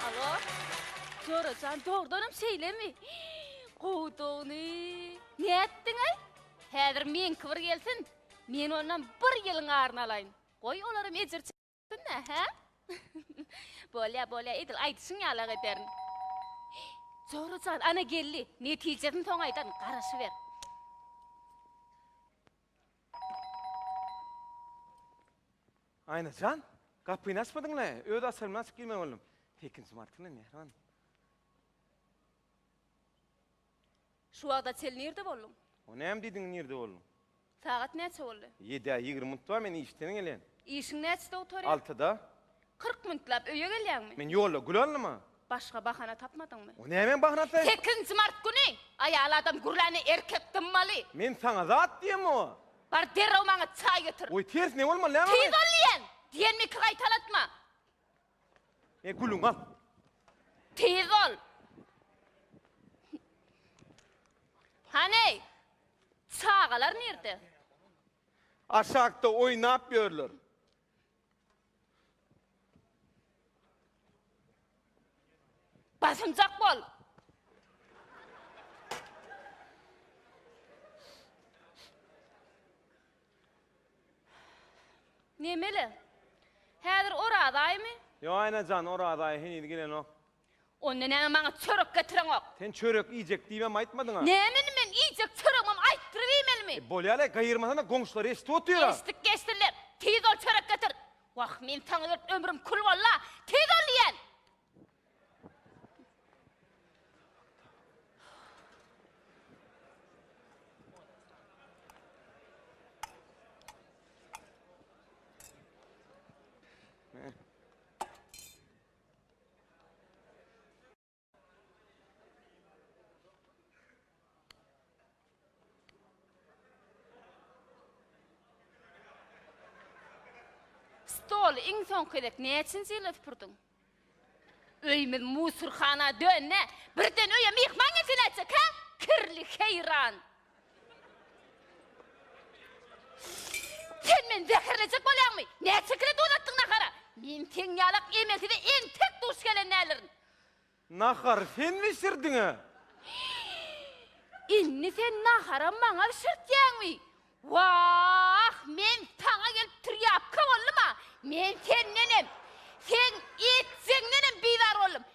Alo. Jorajan dogrudanam şeýlemi? Gowudygyny. Nätdiňaý? Häzir meňki bir gelsin. Men ondan bir ýylyň aryny alaýyn. Goý olaram ejir çeksin-dä, hä? Bolýa, bolýa, edil aýdyşyň ýalak ederin. Jorajan, ana geldi. Netijesini soň aýdaryn, garaşyber. Aýna jan, gapyny açmadyň-la, öz açarym bilen açyp girmeli boldum. Sekinji martyna mähriban. Şu wagta çel nirde bolduň? O näme diýdiň nirde bolduň? Sagat näçe boldy? Ýedä ýigrimi minut bar, men işden gelýän. Işiň näçede gutaryar? Altyda. Kyrk minutlap öýe gelýäňmi? Men ýolda gül aldyma. Başga bahana tapmadyňmy? O nämeň bahanasy? Sekinji mart güni aýal adam gürläni erkek dymmaly. Men saňa zat diýem o. Bar derrew maňa çaý getir. Oý ters ne bolmaly näme Tiz ol diýen! Diýenimi iki gaýtalatma. E gülüň gaz. Tiz bol. Hany çagalar nirde? Aşakda oýnap ýörler. Basymjak bol. Nemeli? Häzir Oraz aýymy? Ýo Aýnajan, Oraz aýy heniz gelenok. Onda näme maňa çörek getireňok? Sen çörek iýjek diýibem aýtmadyň-a. Näme indi men iýjek çöregimem aýtdyryp iýmelimi? E, bolýa-laý, gaýyrmasana, goňşular eşidip otyr-a. Eşitdik geçsinler. Tiz bol çörek getir. Wah, men saňa görüp ömrüm kül boldy-a. Tiz bol diýýän! Stoly iň soňky gezek näçinji ýylda süpürdiň? Öýümiz musorhana döndi. Birden öýe myhman gelse nätjek, hä? Kirli heýran. Sen meni zäherlejek bolýaňmy? Näçekile donatdyň nahara? Men seň ýalak emelsize entek duş gelen däldirin. Nahary sen bişirdiň-ä? Indi sen naharam maňa bişirtýäňmi? Wah, men saňa gelip trýapka boldum-a! Men sendenem, seň etjegiňdenem bizar boldum.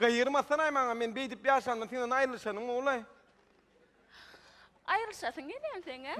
Gaýyrmasanaý maňa, men beýdip ýaşandan senden aýrylyşanyň gowulaý. Aýrylyşasyň gelýän seň-ä?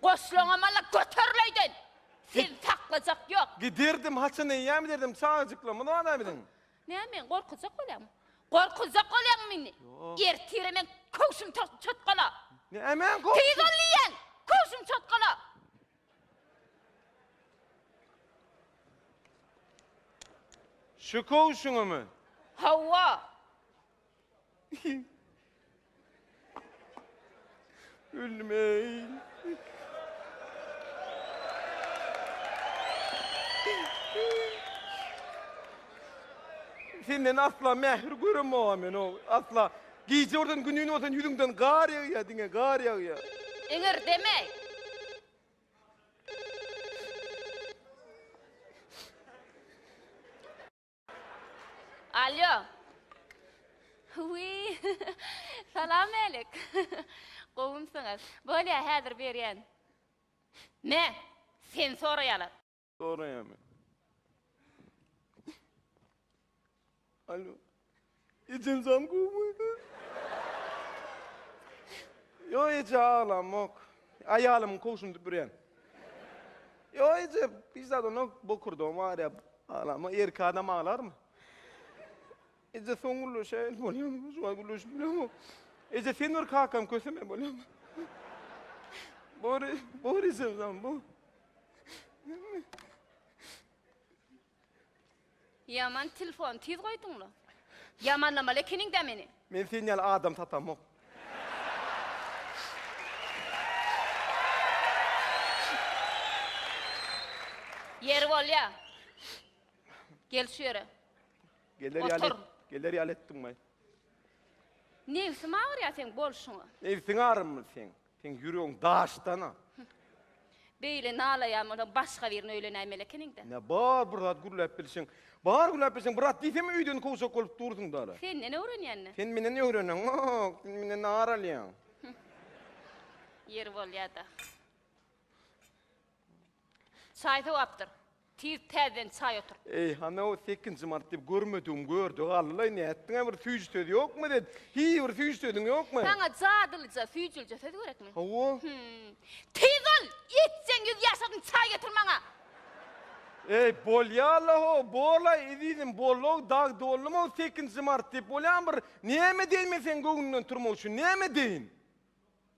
Goşlaňam-ala göteril öýden! Sizi saklajak ýok! Giderdim, haçan eýýäm giderdim, çagajyklarymyz bar-a biziň. Näme, meni gorkuzjak bolýaňmy? Gorkuzjak bolýaňmy indi? Ertire meň köwşüm çotgala! Nämäň köwşümi? Tiz ol diýýän! Köwşüm çotgala! Şu köwşüňimi? Hawa. Ölmeý. Senden asla mähir göremogam men o asla. Gije bolsan günün bolsan ýüzüňden gar ýagýa diňe gar ýagýa. Iňir deme. Alýo. Wi. Salam alik. Gowumsyňyz. Bolýa häzir berýän. Ne? Sen soraýalar. Soraýarmy? Alo. Ejin zam gowmydy? Yo eje ağlamok. Ayalım kovşum düpüryen. Yo eje hiç zat onu bokurdum var ya ağlama. Erkek adam ağlar mı? Eje son gülü şey oluyor mu? Şu an gülü şimdi mu? Eje sen bir kakam köseme oluyor mu? Bori, Bori sen zaman bu. Ýaman telefony tiz goýduňmy? Ýamanlamaly ekeniň-dä meni. Men sen ýaly adam tapamok. Ýeri bolýa. Gel şu ýere. Geler ýaly, Otur. geler ýaly etdiňmi? Nebsiň agyrýa seň bolşuňa. Nebsiň agyrmy seň? Seň ýüregiň daşdana. Beýle nalaýan bolsaň başga birini öýlenäýmeli ekeniň-dä. Nä bar bir zat gürläp bilşiň. Bar gürläp bilşiň bir zat diýsem öýden kowjak bolup dursuň dala. Senden öwrenýän-dä. Sen menden öwrenenok, sen menden ar alýaň. Ýeri bolýa-da. Çaý sowapdyr. Tiz täzeden çaý otur. Eý, hany-ow, sekinji mart diýip, görmedigim gördi galdy-laý, nätdiň-ä, bir süýji söz ýokmy sen? Hiý, bir süýji sözüň ýokmy? Saňa jadylyja, süýjülije söz gerekmi? Hawa. Hümm. Tiz ol, itjeň ýüz ýaşadyň, çaý getir maňa! Eý, bolýa-la-how, bol-aý, ezizim, bol-ow, dag doldum-ow, sekinji mart diýip, bolýamy bir? Näme deýin men seň göwnüňden turmak üçin, näme deýin?